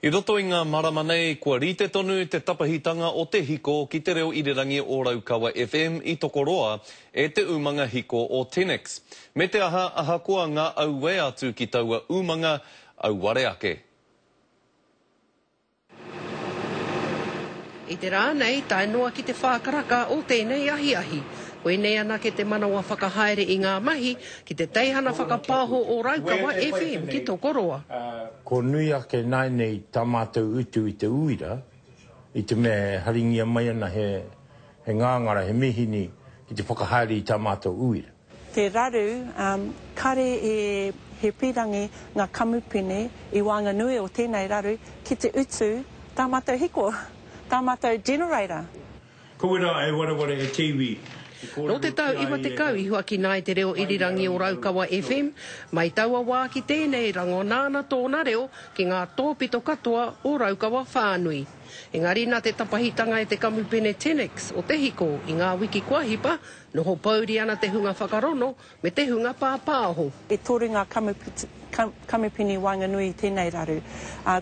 I roto i ngā marama nei, kua rite tonu te tapahitanga o te hiko ki Te Reo Irirangi o Raukawa FM i Tokoroa e te umanga hiko o Tenex. Me te aha, ahakoa ngā auē atu ki taua umanga, auare ake. I te rā nei, tae noa ki te whā karaka o tēnei ahiahi. Koinei anake te manawa whakahaere i ngā mahi, Ki te teihana whakapāho o Raukawa FM ki Tokoroa. Ko nui ake nāinei tā mātou utu i te uira, i te mea e haringia mai ana he ngāngara, he mīhini ki te whakahaere i tā mātou uira. Te raru, kare e he pīrangi ngā kamupene i waenganui o tēnei raru ki te utu tā mātou hiko, tā mātou generator. Kowera e wareware e te iwi i kōrero ki a ia e Nō te tau 90 i huakina ai te reo irirangi o Raukawa FM. Mai taua wā ki tēnei rango nāna tōna reo ki ngā tōpito katoa o Raukawa whānui. Engari nā te tapahitanga e te kamupene Tenex o Te Hiko i ngā wiki kua hipa, noho pouri ana te hunga whakarono Me te hunga pāpāho. E toru ngā kamupini waenganui i tēnei raru.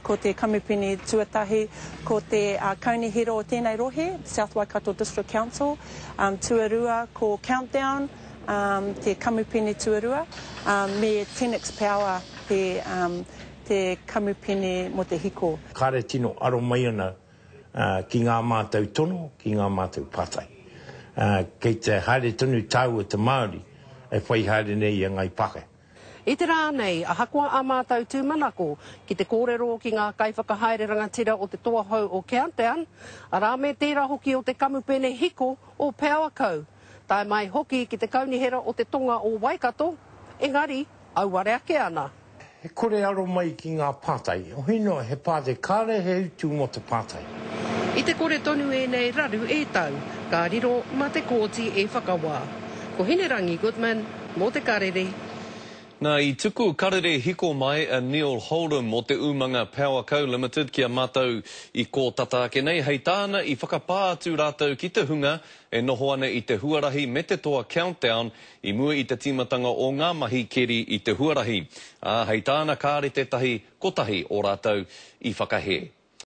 Ko te kamupini tuatahi, ko te kaunihera o tēnei rohe, South Waikato District Council. Tuarua, ko Countdown, te kamupini tuarua, me Tenix Power, te kamupini mō te hiko. Kāre tino aro mai ana ki ngā mātou tono, ki ngā mātou pātai. Kei te haere tonu tāu e te Māori e whai haere nei i a Ngāi Pākehā. I te rā nei, ahakoa ā mātou tūmanako ki te kōrero ki ngā kaiwhakahaere rangatira o te toa hou o Countdown, arā me tērā hoki o te kamupene hiko o Powerco, tae mai hoki ki te kaunihera o te tonga o Waikato, engari, auare ake ana. He kore aro mai ki ngā pātai. Ohi noa, he pātai, kāre he utu mō te pātai. I te kore tonu ēnei raru e tau, ka riro mā te kōti e whakawā. Ko Hinerangi Goodman, mō te Karere. Nā, i tuku karere hiko mai a Neil Holdham o Te Umanga Power Co Limited ki a mātou i kōtata ake nei, hei tāna i whakapā atu rātou ki te hunga E noho ana i te huarahi me te toa Countdown i mua i te tīmatanga o ngā mahi keri i te huarahi, ā, hei tāna kāre tētahi kotahi o rātou i whakahē.